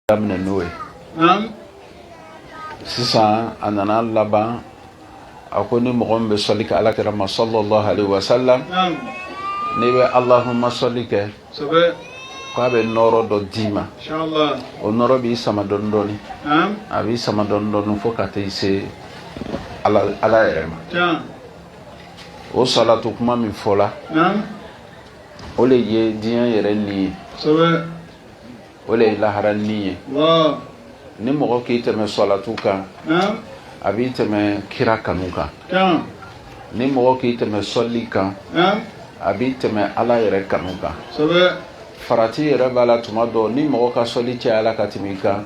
daminɛ n'o ye sisan a nana laban a ko ni mɔgɔ min bɛ sɔli kɛ ala kira ma salalahu alayi wasalam n'i bɛ alahuma sɔli kɛ k'a bɛ nɔɔrɔ dɔ d'i ma o nɔɔrɔ b'i sama dɔɔni dɔɔni a b'i sama dɔɔni dɔɔni fo ka t'i se ala yɛrɛ ma o salatu kuma min fɔla o de ye diɲɛ yɛrɛ ni ye o de ye lahara ni ye ni mɔgɔ k'i tɛmɛ sɔlatu kan a b'i tɛmɛ kira kanu kan ni mɔgɔ k'i tɛmɛ sɔli kan a b'i tɛmɛ ala yɛrɛ kanu kan farati yɛrɛ b'a la tuma dɔ ni mɔgɔ ka sɔli cayala ka tɛmɛ i kan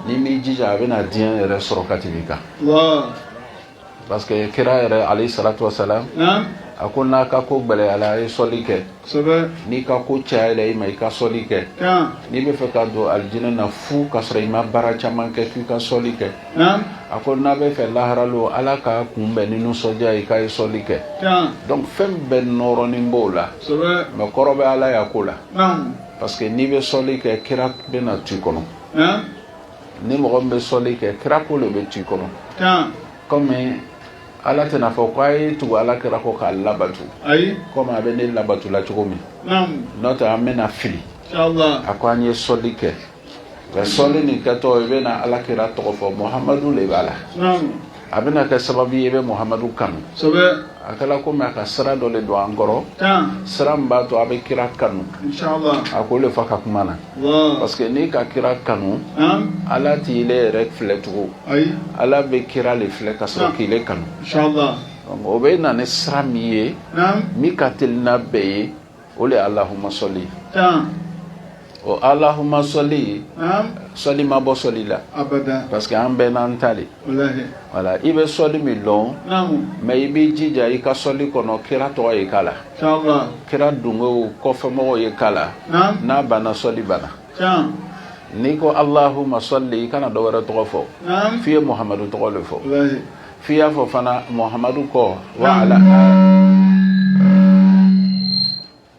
n'i m'i jija a bɛna diɲɛ yɛrɛ sɔrɔ ka tɛmɛ i kan parce que kira yɛrɛ alayi salatu wasalam a ko n'a ka ko gbɛlɛyala a ye sɔli kɛ n'i ka ko cayala i ma i ka sɔli kɛ n'i bɛ fɛ ka don alijinɛ na fu ka sɔrɔ i ma baara caman kɛ k'i ka sɔli kɛ a ko n'a bɛ fɛ lahara lon ala k'a kunbɛn ni nisɔndiya ye k'a ye sɔli kɛ donc fɛn bɛɛ nɔrɔnin b'o la mais kɔrɔ bɛ ala y'a ko la parce que n'i bɛ sɔli kɛ kira bɛna to i kɔnɔ ni mɔgɔ bɛ sɔli kɛ kira ko de bɛ t'i kɔnɔ kɔmi ala tɛna fɔ ko a ye tugu ala kira kɔ k'a labato ayi kɔmi a bɛ ne labato la cogo min n'o tɛ an bɛna fili a ko an ye sɔli kɛ nka sɔli nin kɛtɔ i bɛna ala kira tɔgɔ fɔ muhamadu de b'a la a bɛna kɛ sababu y'i bɛ muhamadu kanu a kɛla kɔmi a ka sira dɔ de don an kɔrɔ sira min b'a to a bɛ kira kanu a k'o de fɔ a ka kuma na parce que n'i ka kira kanu ala t'ile yɛrɛ filɛ tugun ala bɛ kira de filɛ ka sɔrɔ k'ile kanu o bɛ na ni sira min ye min ka teli n'a bɛɛ ye o de ye Allahumma sɔli ye, tan, o Allahumma sɔli, naamu, sɔli ma bɔ sɔli la, abada, parce que an bɛɛ n'an ta de, walahi, voilà i bɛ sɔli min dɔn, naamu, mais i b'i jija i ka sɔli kɔnɔ kira tɔgɔ ye k'a la, inshallah, kira dungew kɔfɛmɔgɔw ye k'a la, naamu, n'a banna sɔli banna, tan, n'i ko Allahumma sɔli i kana dɔ wɛrɛ tɔgɔ fɔ, naamu, f'i ye Muhamadu tɔgɔ de fɔ, walahi, f'i y'a fɔ fana Muhamadu kɔ wa ala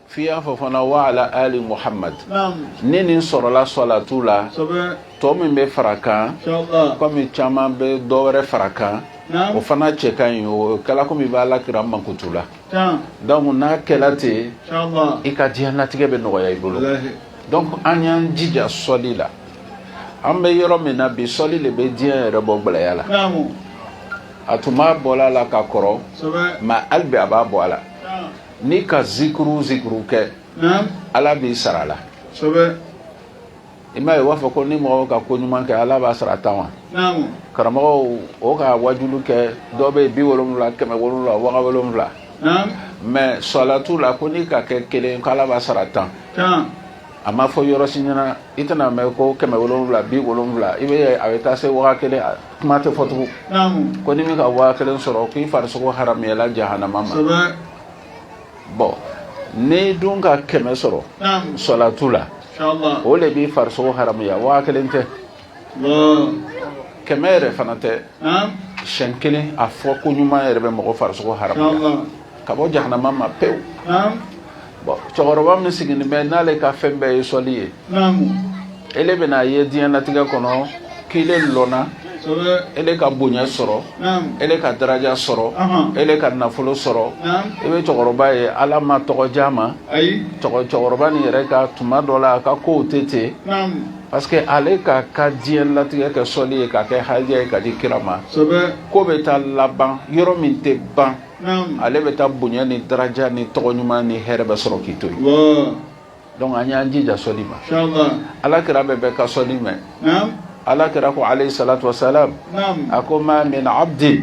f'i y'a fɔ fana wa ala ali Muhamad ni nin sɔrɔla sɔlatu la tɔ min bɛ fara kan kɔmi caman bɛ dɔ wɛrɛ fara kan o fana cɛ ka ɲi o kɛla komi i b'ala kira mankutu la donc n'a kɛla ten i ka diɲɛlatigɛ bɛ nɔgɔya i bolo donc an y'an jija sɔli la an bɛ yɔrɔ min na bi sɔli de bɛ diɲɛ yɛrɛ bɔ gɛlɛya la a tun b'a bɔla a la ka kɔrɔ mɛ hali bi a b'a bɔ a la n'i ka zikuru zikuru kɛ ala b'i sara la i m'a ye u b'a fɔ ko ni mɔgɔw ka ko ɲuman kɛ ala b'a sara tan wa karamɔgɔw o ka wajulu kɛ dɔ bɛ yen bi wolonwula kɛmɛ wolonwula waga wolonwula mɛ sɔlatu la ko n'i ka kɛ kelen ko ala b'a sara tan a ma fɔ yɔrɔ si ɲɛna i tɛna a mɛn ko kɛmɛ wolonwula bi wolonwula i bɛ a bɛ taa se waa kelen kuma tɛ fɔ tugu ko ni min ka waa kelen sɔrɔ k'i farisogo haramuyala jahanama ma bɔn n'i dun ka kɛmɛ sɔrɔ sɔlatu la o de b'i farisogo haramuya waa kelen tɛ kɛmɛ yɛrɛ fana tɛ siɲɛ kelen a fɔko ɲuman yɛrɛ bɛ mɔgɔ farisogo haramu ka bɔ jahanama ma pewu bɔn cɛkɔrɔba min sigilen bɛ n'ale ka fɛn bɛɛ ye sɔli ye ele bɛna a ye diɲɛlatigɛ kɔnɔ k'ele lɔnna ele ka bonya sɔrɔ ele ka daraja sɔrɔ ele ka nafolo sɔrɔ i bɛ cɛkɔrɔba ye ala ma tɔgɔja ma cɛkɔrɔba nin yɛrɛ ka tuma dɔ la a ka kow tɛ ten Parce que ale k'a ka diɲɛlatigɛ kɛ sɔli ye k'a kɛ hadiya ye k'a di kira ma ko bɛ taa laban yɔrɔ min tɛ ban ale bɛ taa bonya ni daraja ni tɔgɔ ɲuman ni hɛrɛ bɛɛ sɔrɔ k'i to yen dɔnku an y'an jija sɔli ma ala kira bɛ bɛɛ ka sɔli mɛn ala kira ko aleyi salatu wasalam a ko ma min abdin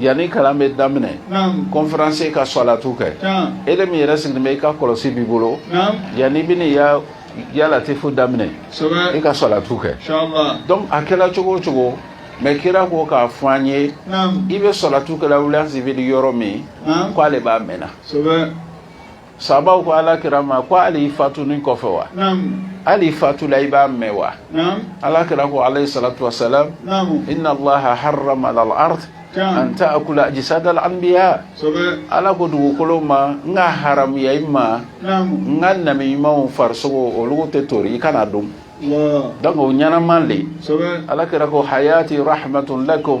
Yanni kalan bɛ daminɛ kɔnferansi i ka sɔlatu kɛ ele min yɛrɛ sigilen bɛ i ka kɔlɔsi b'i bolo yanni i bɛna ya latifu daminɛ i ka sɔlatu kɛ a kɛra cogo o cogo mɛ kira ko k'a fɔ an ye i bɛ sɔlatu kɛ wuli sibi yɔrɔ min k'ale de b'a mɛnna Sahabaw ko ala kira ma ko hali fatuli kɔfɛ wa hali i fatula i b'a mɛn wa ala kira ko aleyi salatu wasalam inna laha harama an ta akula ajsadal anbiya ala ko dugukolo ma n k'a haramuya i ma n ka nabi ɲumanw farisogo olu tɛ to i kana dun dɔnku o ɲɛnama de ala kira ko hayati hayirun lakum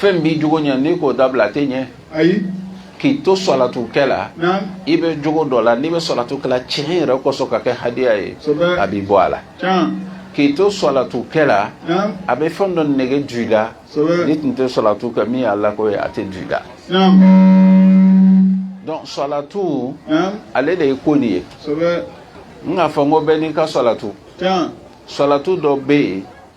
fɛn b'i jogo ɲɛ n'i k'o dabila a tɛ ɲɛ ayi k'i to salatu kɛ la na i bɛ jogo dɔ la n'i bɛ salatu kɛ la tiɲɛ yɛrɛ kosɔn ka kɛ hadiya ye Kosɛbɛ. a b'i bɔ a la can k'i to salatu kɛ la na a bɛ fɛn dɔ nege du i la Kosɛbɛ. n'i tun tɛ salatu kɛ min y'a la ko ye a tɛ du i la na donc salatu na ale de ye ko nin ye sɛbɛ n k'a fɔ n ko bɛɛ n'i ka salatu can salatu dɔ bɛ yen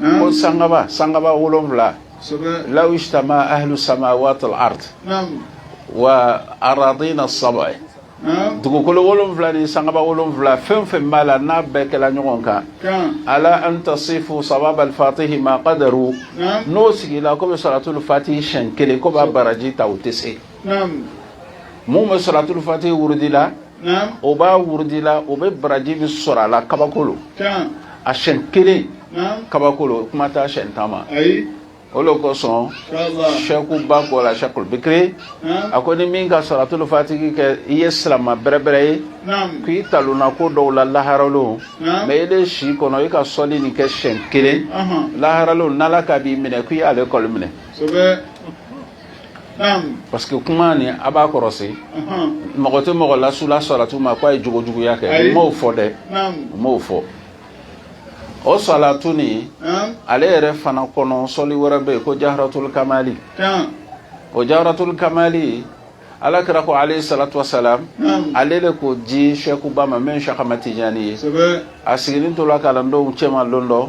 ko sangaba sangaba wolonwula lawu jtama ahlu samawaati ard wa aradina sabai dugukolo wolonwula ni sangaba wolonwula fɛn fɛn b'a la n'a bɛɛ kɛra ɲɔgɔn kan ala an tasifu sawaba alfatihi ma kadaru n'u sigila k'u bɛ sɔlatul fati siyɛn kelen k'u b'a baraji ta u tɛ se minnu bɛ sɔlatul fati wurudi la o b'a wurudi la o bɛ baraji min sɔrɔ a la kabako lo a siyɛn kelen kabako lo kuma tɛ a siyɛn tan ma o de kosɔn sɛkuba ko la sɛkulu bikiri a ko ni min ka sɔlatul fatihi kɛ i ye silamɛ bɛrɛbɛrɛ ye k'i talonna ko dɔw la lahara lon mɛ ile si kɔnɔ i ka sɔli nin kɛ siyɛn kelen lahara lon n'ala ko b'i minɛ k'i y'ale kɔli minɛ parce que kuma nin a b'a kɔrɔsi mɔgɔ tɛ mɔgɔ lasu la salatu ma k'a ye jogo juguya kɛ u m'o fɔ dɛ u m'o fɔ o salatu nin ale yɛrɛ fana kɔnɔ sɔli wɛrɛ bɛ yen ko jawharatul kamali o jawharatul kamali ala kira ko alayhi salatu wasalam ale de k'o di sɛkuba ma min sɛk amad tijani ye a sigilen tora kalandenw cɛma lon dɔ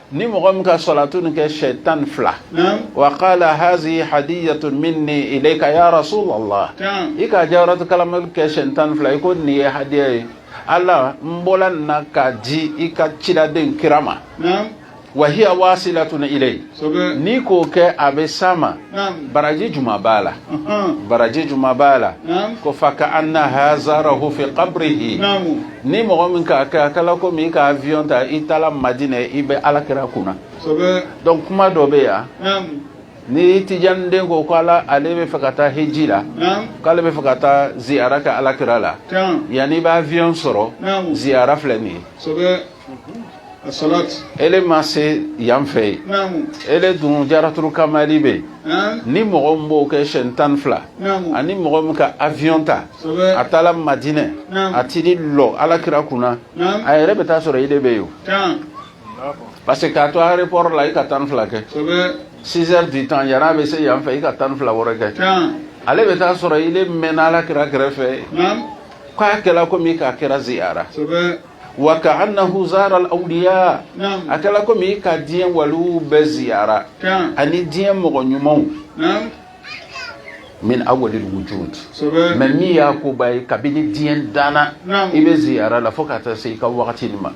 ni mɔgɔ min ka salatu nin kɛ siyɛn tan ni fila wa kala hazihi hadiyatu minni ilayka ya rasulallah i ka jawaratul kamali kɛ siyɛn tan ni fila i ko nin ye hadiya ye ala n bɔla nin na k'a di i ka ciden kira ma wa hiya wasilatun ilay n'i k'o kɛ a bɛ s'a ma baraji juma b'a la baraji juma b'a la ko fa ka annahu zarahu fi qabrihi ni mɔgɔ min k'a kɛ a kɛla komi i ka avion ta i taara madinɛ i bɛ ala kira kunna dɔn kuma dɔ bɛ yan ni tijaniden ko k'ale bɛ fɛ ka taa hiji la k'ale bɛ fɛ ka taa ziyara kɛ ala kira la yanni i b'avion sɔrɔ ziyara filɛ nin ye e ma se yan fɛ ye e dun jawaratul kamali bɛ ni mɔgɔ min b'o kɛ siyɛn tan fila ani mɔgɔ min ka avion ta a taara madinɛ a teri lɔ ala kira kunna a yɛrɛ bɛ taa sɔrɔ ile bɛ yen parce que k'a to aéroport la i ka tan fila kɛ six heures de temps yann'ale bɛ se yan fɛ i ka tan fila wɔɔrɔ kɛ ale bɛ taa sɔrɔ ile mɛnna ala kira kɛrɛfɛ k'a kɛra komi i ka kira ziyara wa ka annahu zara awliya a kɛra komi ka diɲɛ waliw bɛɛ ziyara ani diɲɛ mɔgɔ ɲumanw min awwalil wujudi ten mɛ min y'a koba ye kabini diɲɛ danna i bɛ ziyara la fo ka taa se i ka waati wagati ma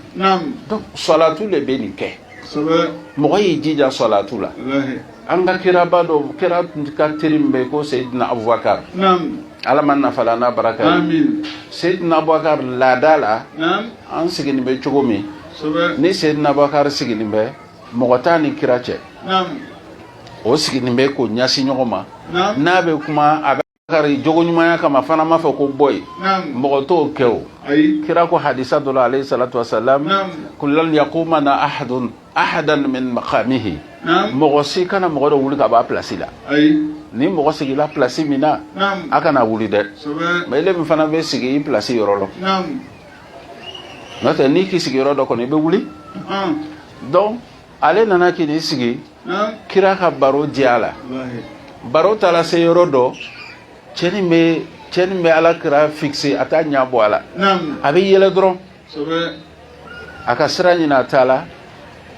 sɔlatu de bɛ nin kɛ mɔgɔ y'i jija sɔlatu la an ka kiraba dɔ kira ka teri min bɛ ko seyidina abubakar ala m'an nafala n'a baraka seyidina abubakar laada la an sigilen bɛ cogo min ni seyidina abubakari sigilen bɛ mɔgɔ t'a ni kira cɛ o siginin bɛ k'o ɲasin ɲɔgɔn ma n'a bɛ kuma a bɛri j ɲumanya kama fana b'a fɔ ko bɔ yen mɔgɔ tɔw kɛ o kira ko hadisi dɔ ale salatu sa ko la yukimana ahadu ahadu makahi mɔgɔ si kana mɔgɔ dɔ wuli ka bɔ a plasi la ni mɔgɔ sigila plasi min na a kana wuli dɛ mɛ e min fana bɛ sigi i plasi yɔrɔ la n'o tɛ n'i k'i sigi yɔrɔ dɔ kɔni i bɛ wuli donc ale nana k'i n'i sigi kira ka baro diyala baro taala se yɔrɔ dɔ cɛ nin bɛ cɛ nin bɛ ala kira fixer a t'a ɲa bɔ a la a bɛ yɛlɛ dɔrɔn a ka sira ɲini a t'a la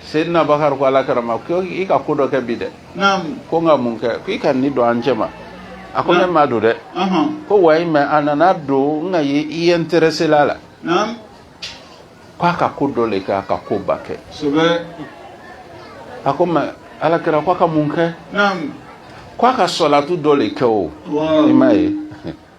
seyidina bakari ko ala kira ma ko i ka ko dɔ kɛ bi dɛ ko n ka mun kɛ ko i ka nin don an cɛma a ko ne m'a don dɛ ko wayi mɛ a nana don n k'a ye i intéresséla a la ko a ka ko dɔ le kɛ a ka koba kɛ a ko mɛ ala kira ko a ka mun kɛ ko a ka sɔlatu dɔ le kɛ o i ma ye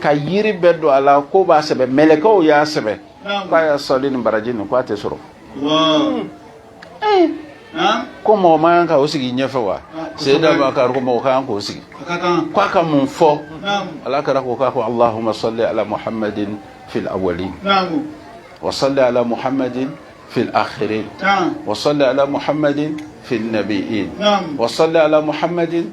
kayiri bɛɛ don a la k'o b'a sɛbɛn mɛlɛkɛw y'a sɛbɛn k'a y'a sɔli nin baraji nin k'a tɛ sɔrɔ ko mɔgɔ man kan ka o sigi ɲɛfɛ wa seyida bakari ko mɔgɔ kan k'o sigi k'a ka mun fɔ ala kira ko k'a ko alahuma sɔli ala muhammadin fil awali wa sɔli ala muhammadin fil akhirin wa sɔli ala muhammadin fil nabiyin wa sɔli ala muhammadin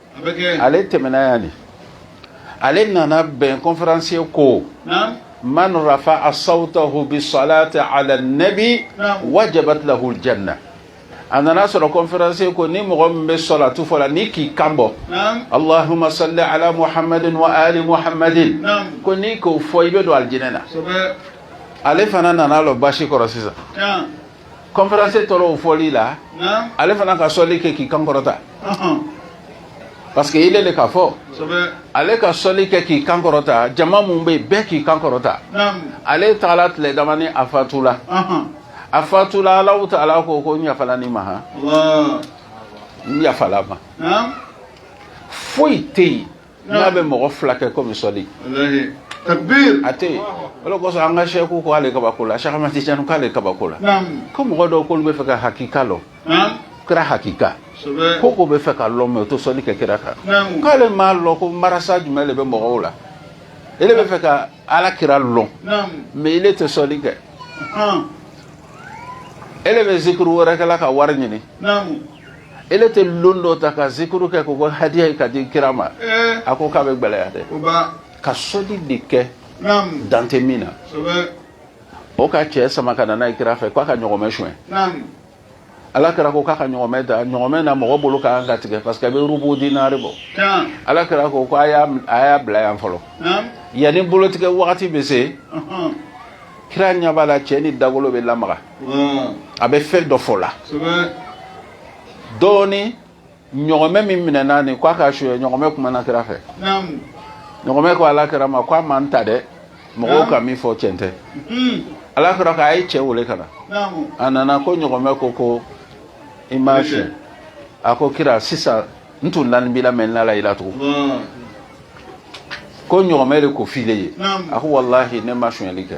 ale tɛmɛna yan de ale nana bɛn conférencier ko man rafa'a sawtahu bi salati ala nabi wajabat lahul jana a nana sɔrɔ conférencier ko ni mɔgɔ min bɛ sɔlatu fɔla n'i k'i kan bɔ alahuma sɔli ala muhamad wa ali muhamad ko n'i k'o fɔ i bɛ don alijinɛ na ale fana nana don basi kɔrɔ sisan conférencier tora o fɔli la ale fana ka sɔli kɛ k'i kan kɔrɔta parce que ile le k'a fɔ ale ka sɔli kɛ k'i kan kɔrɔta jama min bɛ yen bɛɛ k'i kan kɔrɔta ale taala tile damani a fatula a fatula alahu taala ko ko n yafala nin ma han n yafala a ma foyi tɛ yen n'a bɛ mɔgɔ fila kɛ komi sɔli a tɛ yen o de kosɔn an ka sɛku ko ale kabako la sɛk amati tijani k'ale kabako la ko mɔgɔ dɔw k'olu b'a fɛ ka hakika lɔn kira hakika ko k'o b'a fɛ k'a lɔn mɛ o tɛ sɔli kɛ kira kan k'ale m'a lɔn ko marasa jumɛn de bɛ mɔgɔw la ele b'a fɛ ka ala kira lɔn mɛ ele tɛ sɔli kɛ ele bɛ zikiri wɛrɛ kɛla ka wari ɲini e tɛ don dɔ ta ka zikuru kɛ k'o kɛ hadiya ye k'a di kira ma a ko k'a bɛ gɛlɛya dɛ ka sɔli de kɛ dan tɛ min na o ka cɛ sama ka na n'a ye kira fɛ k'a ka ɲɔgɔmɛ suɲɛ ala kira ko k'a ka ɲɔgɔmɛ ta ɲɔgɔmɛ na mɔgɔ bolo ka kan ka tigɛ parce que a bɛ rubu dinari bɔ ala kira ko ko a y'a bila yan fɔlɔ yanni bolotigɛ wagati bɛ se kira ɲɛ b'a la cɛ nin dagolo bɛ lamaga a bɛ fɛn dɔ fɔ la dɔɔnin ɲɔgɔmɛ min minɛna nin k'a k'a suɲɛ ɲɔgɔmɛ kumana kira fɛ ɲɔgɔmɛ ko ala kira ma k'a ma n ta dɛ mɔgɔw ka min fɔ cɛn tɛ hmm. ala kira k'a ye cɛ wele ka na a nana ko ɲɔgɔmɛ ko ko i m'a suɲɛ a ko kira sisan n tun lani b'i la mais n lala i la tugun ko ɲɔgɔmɛ de ko file ye a ko walahi ne ma suɲɛli kɛ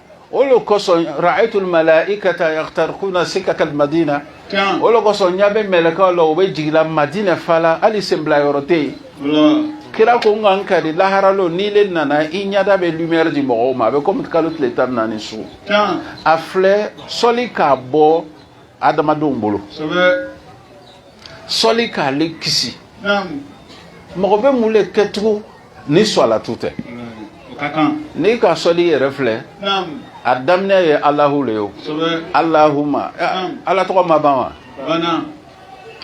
o de kosɔn ra'ayitul malaa'ikata yakhtariquna sikakal madina Tiɲan. o de kosɔn n ɲɛ bɛ mɛlɛkɛw la o bɛ jigila madina fala hali senbila yɔrɔ tɛ yen Wala. kira ko n ka n kari lahara lon n'i le nana i ɲɛda bɛ lumière di mɔgɔw ma a bɛ komi kalo tile tan ni naani su Tiɲan. a filɛ sɔli k'a bɔ adamadenw bolo Sɛbɛ. sɔli k'ale kisi Naam. mɔgɔ bɛ mun de kɛcogo ni sɔlatu tɛ n'i ka sɔli yɛrɛ filɛ a daminɛ ye alahu le ye alahuma ala tɔgɔ ma ban wa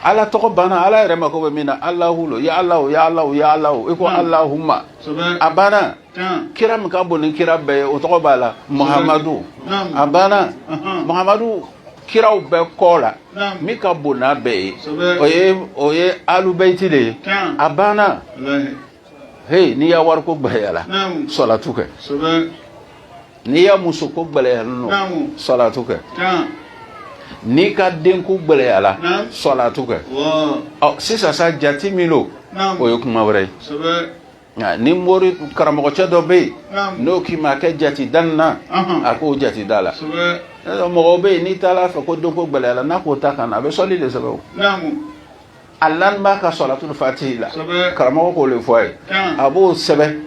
ala tɔgɔ banna ala yɛrɛ mako bɛ min na alahu lo ya ala ya ala ya ala i ko alahuma a banna kira min ka bon ni kira bɛɛ ye o tɔgɔ b'a la mahamadu a banna mahamadu kiraw bɛɛ kɔ la min ka bon n'a bɛɛ ye o ye o ye alubeyiti de ye a banna heyi n'i ya wariko gɛlɛyara sɔlatu kɛ n'i ya musoko gɛlɛyara nɔ sɔlatu kɛ n'i ka denko gɛlɛyara sɔlatu kɛ ɔ sisan sa jate min don o ye kuma wɛrɛ ye Nka ni mori karamɔgɔcɛ dɔ bɛ yen n'o k'i ma kɛ jate dan na a k'o jate da la mɔgɔ bɛ yen n'i taara a fɛ ko denko gɛlɛyala n'a k'o ta ka na a bɛ sɔli de sɛbɛn a la b'a ka sɔlatul fatihi la karamɔgɔ k'o de fɔ a ye a b'o sɛbɛn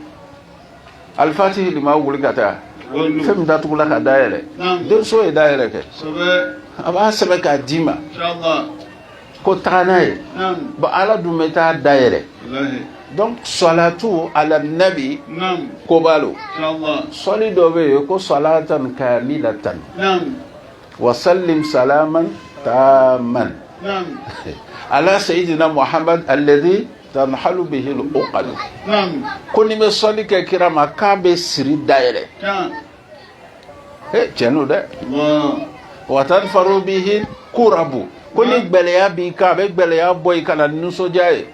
alfatihi lima ughliqa fɛn min datugula ka da yɛlɛ denmuso ye da yɛlɛ kɛ a b'a sɛbɛn k'a d'i ma ko taga n'a ye bon ala dun bɛ taa da yɛlɛ donc salatu ala nabi ko b'a lo sɔli dɔ bɛ yen ko salatan kamilatan wa sallim salaman taman ala sayidina muhammad alladhi tanhalu bihi al-uqad ko n'i bɛ sɔli kɛ kira ma k'a bɛ siri da yɛlɛ ee cɛ n'o dɛ wa tanfariju bihil kurabu ko ni gɛlɛya b'i kan a bɛ gɛlɛya bɔ i kan nisɔndiya ye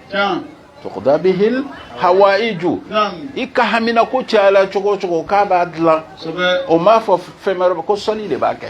tuqda bihil hawa'iju i ka haminanko cayala cogo cogo k'a b'a dilan o m'a fɔ fɛn wɛrɛ ko sɔli de b'a kɛ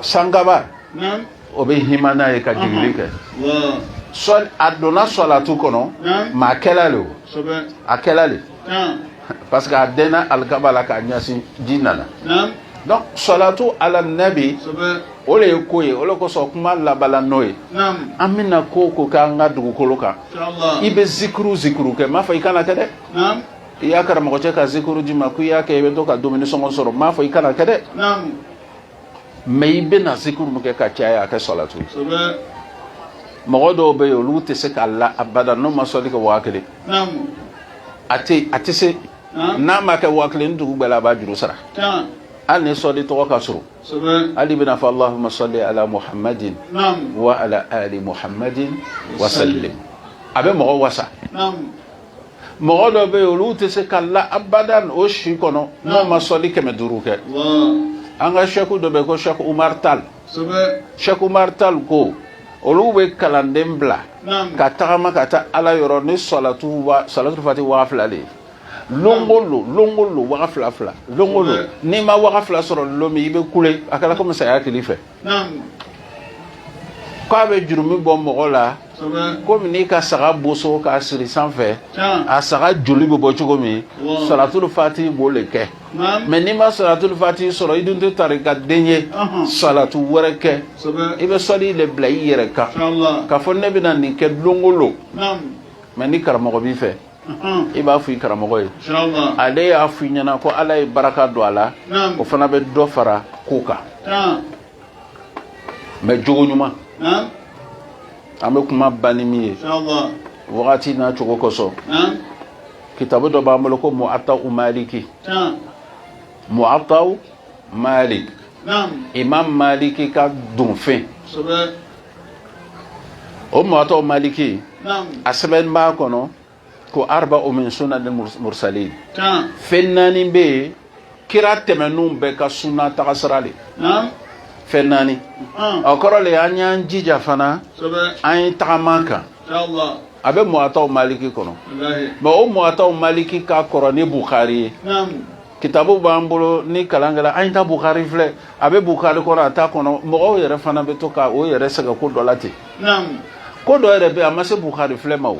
sankaba o bɛ hima n'a ye ka jigili kɛ sɔli a donna sɔlatu kɔnɔ mɛ a kɛla le o a kɛla le parce que a dɛnna alikaba la k'a ɲɛsin ji nana donc sɔlatu ala nabi o le ye ko ye o le kosɔn kuma laban na n'o ye an bɛna ko o ko k'an ka dugukolo kan i bɛ zikuru zikuru kɛ n m'a fɔ i kana kɛ dɛ i ya karamɔgɔcɛ ka zikuru d'i ma ko i y'a kɛ i bɛ to ka dumuni sɔngɔ sɔrɔ n m'a fɔ i kana kɛ dɛ mɛ i bɛna zikuru min kɛ ka caya a kɛ salatu mɔgɔ dɔw bɛ yen olu tɛ se ka la abada n'o ma sɔli kɛ waa kelen a tɛ a tɛ se n'a ma kɛ waa kelen dugu gbɛla a b'a juru sara hali ni sɔli tɔgɔ ka surun hali i bɛn'a fɔ alahuma sɔli ala muhammadin wa ala ali muhammadin wa sallim a bɛ mɔgɔ wasa mɔgɔ dɔ bɛ yen olu tɛ se ka la abada o si kɔnɔ n'o ma sɔli kɛmɛ duuru kɛ an ka sɛku dɔ bɛ ko sɛku umaru tal sɛku umaru tal ko olu bɛ kalanden bila ka tagama ka taa ala yɔrɔ ni salatu salatu fati waa fila de ye lon o lon lon o lon waga fila fila lon o lon n'i ma waga fila sɔrɔ lon min i bɛ kule a kɛra komi saya kɛl'i fɛ k'a bɛ jurumi bɔ mɔgɔ la komi n'i ka saga boso k'a siri sanfɛ a saga joli bɛ bɔ cogo min salatul fati b'o le kɛ mɛ n'i ma salatul fati sɔrɔ i dun tɛ tarikaden ye salatu wɛrɛ kɛ i bɛ sɔli de bila i yɛrɛ kan k'a fɔ ne bɛna nin kɛ don o don mɛ ni karamɔgɔ b'i fɛ i b'a fɔ i karamɔgɔ ye ale y'a fɔ i ɲɛna ko ala ye baraka don a la o fana bɛ dɔ fara ko kan mɛ jogoɲuman an bɛ kuma ban ni min ye wagati n'a cogo kosɔn kitabu dɔ b'an bolo ko muwata'u maliki muwata'u malik imam maliki ka donfɛn o muwata'u maliki a sɛbɛn b'a kɔnɔ ko arba'u min sunanil mursalin fɛn naani bɛ yen kira tɛmɛnenw bɛɛ ka suna tagasira de fɛn naani o kɔrɔ de an y'an jija fana an ye tagama a kan a bɛ muwata'u maliki kɔnɔ mɛ o muwata'u maliki ka kɔrɔ ni bukari ye kitabu b'an bolo ni kalan kɛra an ye taa bukari filɛ a bɛ bukari kɔnɔ a t'a kɔnɔ mɔgɔw yɛrɛ fana bɛ to ka u yɛrɛ sɛgɛn ko dɔ la ten ko dɔ yɛrɛ bɛ yen a ma se bukari filɛ ma o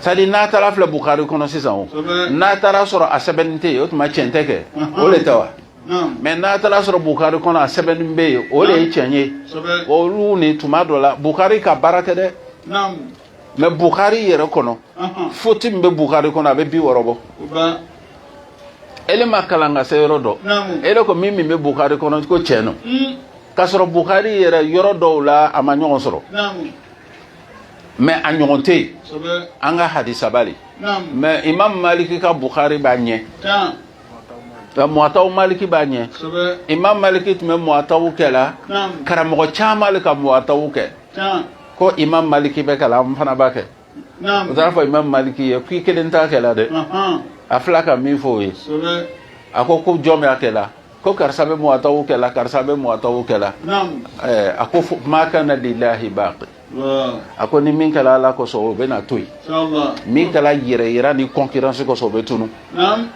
c'est-à-dire n'a taara filɛ bukari kɔnɔ sisan o n'a taara sɔrɔ a sɛbɛnni tɛ yen o tuma cɛn tɛ kɛ o de tɛ wa mais n'a taara sɔrɔ bukari kɔnɔ a sɛbɛnni bɛ yen o de ye cɛn ye olu ni tuma dɔ la bukari ka baara tɛ dɛ mais bukari yɛrɛ kɔnɔ foti min bɛ bukari kɔnɔ a bɛ bi wɔɔrɔ bɔ ele ma kalan ka se yɔrɔ dɔ ele ko min min bɛ bukari kɔnɔ ko tiɲɛ don hmm. k'a sɔrɔ bukari yɛrɛ yɔrɔ dɔw la a ma ɲɔgɔn sɔrɔ mais a ɲɔgɔn tɛ yen an ka hadisaba le mɛ imam maliki ka bukari b'a ɲɛ muwata maliki b'a ɲɛ imam maliki tun bɛ muwata kɛla karamɔgɔ caman le ka muwata kɛ ko imam maliki b'a kɛla an fana b'a kɛ o taara fɔ imam maliki ye k'i kelen t'a kɛla dɛ a filɛ a ka min fɔ o ye a ko ko jɔn bɛ a kɛla ko karisa bɛ muwata kɛla karisa bɛ muwata kɛla a ko maa kana lillahi baaqi a ko ni min kɛla ala kosɔn o bɛna to yen min kɛla yɛrɛ yira ni concurrence kosɔn o bɛ tunu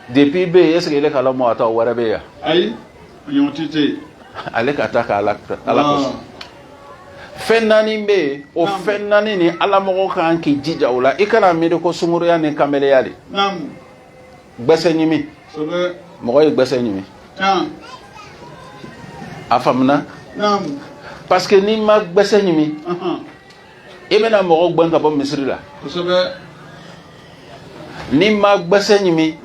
depuis bɛ yen est ce que e kala muwata wɛrɛ bɛ yan ale ka a ta kɛ ala kosɔn fɛn naani bɛ yen o fɛn naani ni ala mɔgɔ kan k'i jija o la i kana miiri ko sunguruya ni kanbeleya le gbɛsɛ ɲimi mɔgɔ ye gbɛsɛ ɲimi a faamuna parce que n'i ma gbɛsɛ ɲimi i bɛna mɔgɔw gbɛn ka bɔ misiri la n'i ma gbɛsɛ ɲimi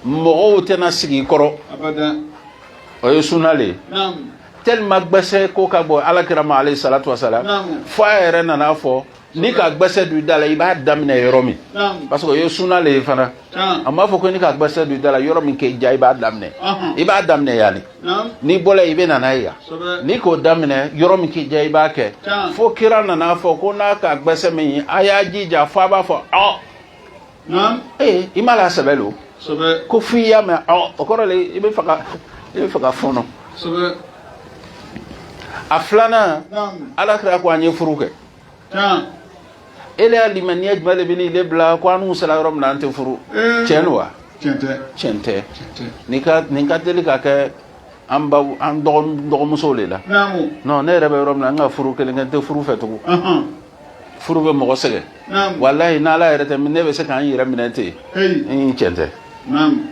mɔgɔw tɛna sigi i kɔrɔ o ye sunna le ye tellement gbɛsɛ ko ka bon ala kira ma alayhi salatu wasalam fo a yɛrɛ nana fɔ n'i ka gbɛsɛ don i da la i b'a daminɛ yɔrɔ min parce que o ye sunna le ye fana a m'a fɔ ko n'i ka gbɛsɛ don i da la yɔrɔ min k'i diya i b'a daminɛ i b'a daminɛ yanni n'i bɔra i bɛ na n'a ye yan n'i k'o daminɛ yɔrɔ min k'i diya i b'a kɛ fo kira nana fɔ ko n'a ka gbɛsɛ minɛ a y'a jija fo a b'a fɔ ɔ ee i m'a lɔn sɛbɛ lo ko f'i y'a mɛn ɔ o kɔrɔ le i bɛ fɛ ka i bɛ fɛ ka fɔɔnɔ a filanan ala kira ko an ye furu kɛ tan ele y'a limaniya jumɛn de bɛ ni ne bila ko an n'u sera yɔrɔ min na an tɛ furu ee tiɲɛ don wa tiɲɛ tɛ tiɲɛ tɛ tiɲɛ tɛ nin ka nin ka teli ka kɛ an baw an dɔgɔ dɔgɔmusow de la naamu non ne yɛrɛ bɛ yɔrɔ min na n ka furu kelen kɛ n tɛ furu fɛ tugun ɔhɔn furu bɛ mɔgɔ sɛgɛn naamu walayi n'ala yɛrɛ tɛ ne bɛ se ka n yɛrɛ minɛ ten heyi n tiɲɛ tɛ naamu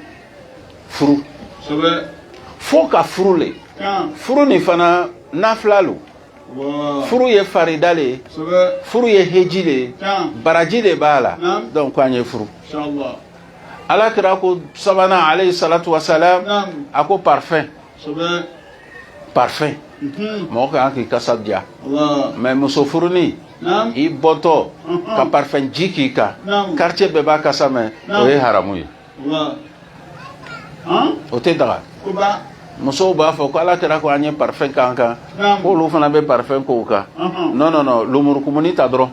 furu sɛbɛ fo ka furu le tan furu nin fana nafila lo furu ye farida le ye furu ye heji le ye baraji le b'a la donc ko an ye furu ala kira ko sabanan alayhi salatu wasalam a ko parfum parfum mhm. mɔgɔ ka kan k'i kasa diya mais muso furuni i bɔtɔ ka parfum ji k'i kan quartier bɛɛ b'a kasa mɛn o ye haramu ye o tɛ daga musow b'a fɔ ko ala kira ko an ye parfum k'an kan k'olu fana bɛ parfum k'u kan non non non lumurukumuni ta dɔrɔn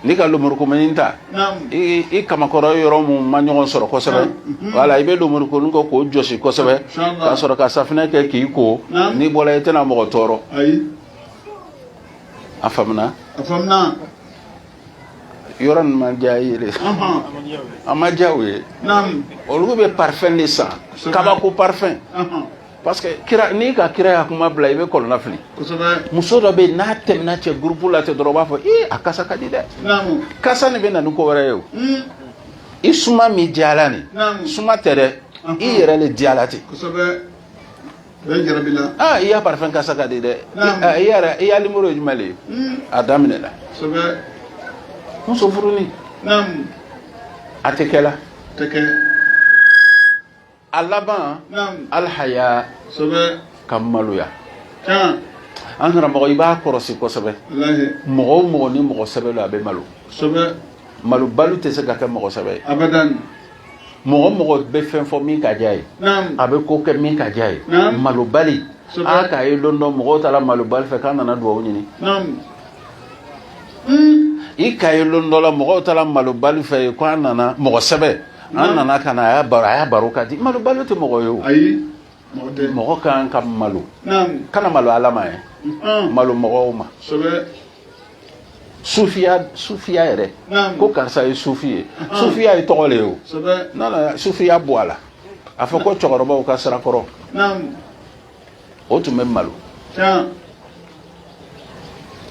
n'i ka lumurukumuni ta i kamakɔrɔ yɔrɔ mun ma ɲɔgɔn sɔrɔ kosɛbɛ wala i bɛ lumurukumuni kɛ k'o jɔsi kosɛbɛ ka sɔrɔ ka safinɛ kɛ k'i ko n'i bɔra i tɛna mɔgɔ tɔɔrɔ a faamuna yɔrɔ nin ma diy'a ye de a ma diya u ye olu bɛ parfum le san kabako parfum parce que kira n'i ka kira ya kuma bila i bɛ kɔnɔnafili muso dɔ bɛ yen n'a tɛmɛna cɛ gurupu la ten dɔrɔn u b'a fɔ ee a kasa ka di dɛ kasa nin bɛ na ni ko wɛrɛ ye o i suma min diyala nin suma tɛ dɛ i yɛrɛ de diyala ten i ya parfum kasa ka di dɛ i yɛrɛ i ya numéro ye jumɛn ye a daminɛna muso furu a tɛ kɛ a laban alihaya ka maloya an nana mɔgɔ i b'a kɔlɔsi kosɛbɛ mɔgɔ mɔgɔ ni mɔgɔsɛbɛ don a bɛ malo malobali tɛ se ka kɛ mɔgɔsɛbɛ mɔgɔ mɔgɔ bɛ fɛn fɔ min ka di a ye a bɛ ko kɛ min ka di a ye malobali a k'a ye don dɔ mɔgɔw taara malobali fɛ k'an nana dugawu ɲini hmm. i k'a ye don dɔ la mɔgɔw taara malobali fɛ ye k'an nana mɔgɔ sɛbɛ an nana ka na a ya baro a ya baro ka di malobali tɛ mɔgɔ ye o mɔgɔ ka kan ka malo kana malo ala ma ye malo mɔgɔw ma sufiya sufiya yɛrɛ Naam. ko karisa ye sufi ye sufiya ye tɔgɔ le ye o sɛbɛ nana sufiya bɔ a la a fɔ ko cɛkɔrɔbaw ka sira kɔrɔ naamu u tun bɛ malo can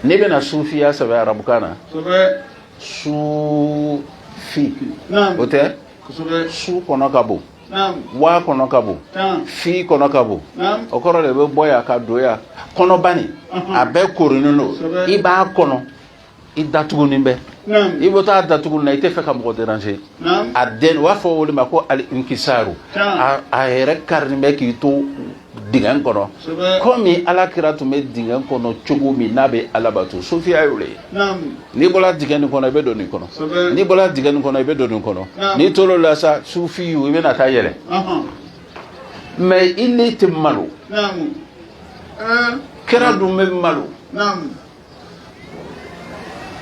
n'i bɛna sufiya sɛbɛn arabukan na sɛbɛ sufi naamu o tɛ kosɛbɛ su kɔnɔ ka bon waw kɔnɔ ka bon fi kɔnɔ ka bon o kɔrɔ de bɛ bɔ yan ka don yan kɔnɔbani a bɛɛ koorinen don i b'a kɔnɔ i datugunin bɛ i bɛ taa datugu na i t'a fɛ ka mɔgɔ déranger a den u b'a fɔ o de ma ko al inkisaru a yɛrɛ karinen bɛ k'i to dingɛ kɔnɔ komi ala kira tun bɛ dingɛ kɔnɔ cogo min n'a bɛ alabato sufiya le ye n'i bɔra dingɛ nin kɔnɔ i bɛ don nin kɔnɔ n'i bɔra dingɛ nin kɔnɔ i bɛ don nin kɔnɔ n'i to la sa sufi i bɛ na taa yɛlɛ mɛ ele tɛ malo kira dun bɛ malo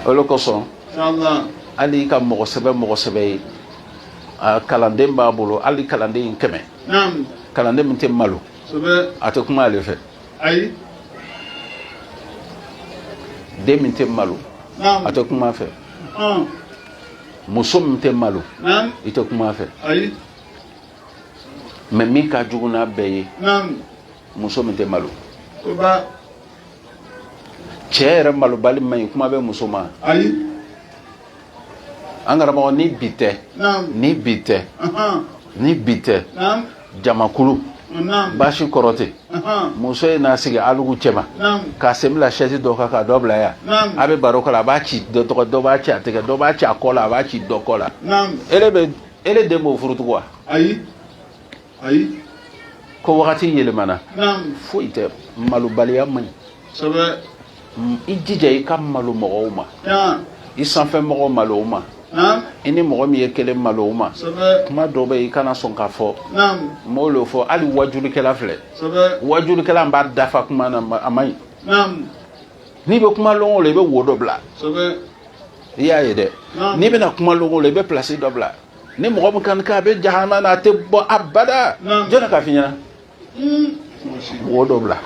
o le kosɔn hali ka mɔgɔ sɛbɛ mɔgɔ sɛbɛ ye kalanden b'a bolo hali kalanden in kɛmɛ kalanden min tɛ malo a tɛ kuma ale fɛ den min tɛ malo a tɛ kuma fɛ muso min tɛ malo i tɛ kuma fɛ mɛ min ka jugu n'a bɛɛ ye muso min tɛ malo cɛ yɛrɛ malobali man ɲi kuma bɛ muso ma ayi an karamɔgɔ ni bi tɛ ni bi tɛ ni bi tɛ jamakulu baasi kɔrɔ tɛ muso ye n'a sigi alugu cɛma k'a sen bila sɛsi dɔ kan k'a dɔ bila yan a bɛ baro kɛ la a b'a ci dɔ tɛgɛ dɔ b'a ci a tɛgɛ dɔ b'a ci a kɔ la a b'a ci dɔ kɔ la ele bɛ ele den b'o furu tugu wa ayi ayi ko wagati yɛlɛmana foyi tɛ malobaliya man ɲi i jija i ka malo mɔgɔw ma i sanfɛ mɔgɔ malo o ma i ni mɔgɔ min ye kelen malo o ma kuma dɔ bɛ i kana sɔn k'a fɔ mɔgɔw y'o fɔ hali wajulikɛla filɛ wajulikɛla b'a da fa kuma na a man ɲi n'i bɛ kuma lɔnko la i bɛ wo dɔ bila i y'a ye dɛ n'i bɛna kuma lɔnko la i bɛ plasi dɔ bila ni mɔgɔ min kan k'a bɛ jahanama na a tɛ bɔ abada jɔnni k'a f'i ɲɛna wo dɔ bila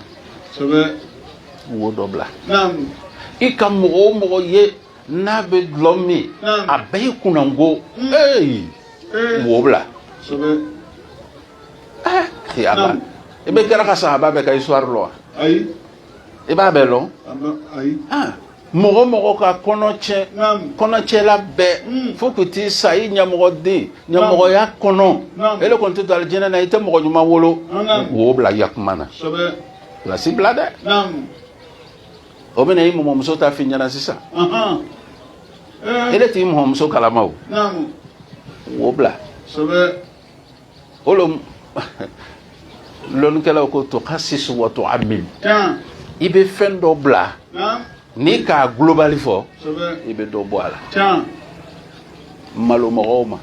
wo dɔ bila i ka mɔgɔ o mɔgɔ ye n'a bɛ dɔlɔ min a bɛɛ ye kunnango ee wo bila ee ala i bɛ kira ka sahaba bɛɛ ka histoire lɔ wa i b'a bɛɛ lɔn mɔgɔ o mɔgɔ ka kɔnɔ tiɲɛ kɔnɔcɛla bɛɛ hmm. fo k'u t'i sa i ɲamɔgɔden ɲamɔgɔya kɔnɔ ele kɔni tɛ don alijinɛ na i tɛ mɔgɔ ɲuman wolo wo bila i ka kuma na plasi bila dɛ o bɛna i mɔmɔmuso ta f'i ɲɛna sisan eh. ele t'i mɔmɔmuso kalama o wo bila o le lɔnnikɛlaw ko to ka sisu wa to ami i bɛ fɛn dɔ bila n'i k'a globali fɔ i bɛ dɔ bɔ a la malo mɔgɔw ma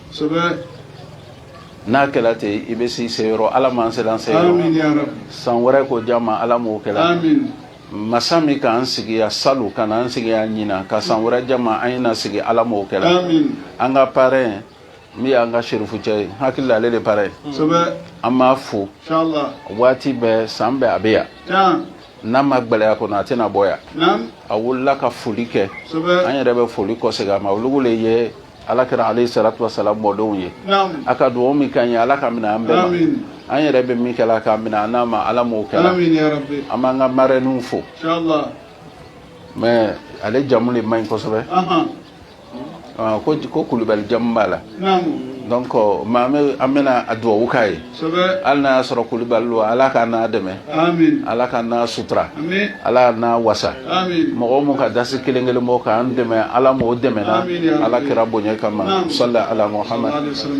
n'a kɛra ten i bɛ se seyɔrɔ ala m'an sela seyɔrɔ san wɛrɛ ko diya ma ala m'o kɛra masa min k'an sigi yan salon ka n'an sigi yan ɲinan ka san wɛrɛ diya ma an ye na sigi ala m'o kɛra an ka parɛn Min y'an ka serifucɛ ye n hakili la ale de parrain ye an b'a fo waati bɛɛ san bɛɛ a bɛ yan n'a ma gɛlɛya kɔni a tɛna bɔ yan a wulila ka foli kɛ an yɛrɛ bɛ foli kɔsegin a ma olu de ye ala kira alayhi salatu wasalam mɔdenw ye a ka dugawu min k'an ye ala k'a minɛ an bɛɛ an yɛrɛ bɛ min kɛ ala k'a minɛ an n'a ma ala m'o kɛla an b'an ka marraine fo mais ale jamu de man ɲi kosɛbɛ Ah, ko ko kulubali jamu b'a la donc maa an bɛna dubabu k'a ye hali n'a y'a sɔrɔ kulubali don ala ka n'a dɛmɛ ala ka n'a sutura ala n'a wasa mɔgɔ min ka dasi kelen kelen bɔ k'an dɛmɛ ala m'o dɛmɛna ala kira bonya kama salli ala muhammad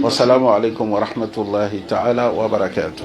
wasalamu alaikum warahmatullahi taala wa barakatuh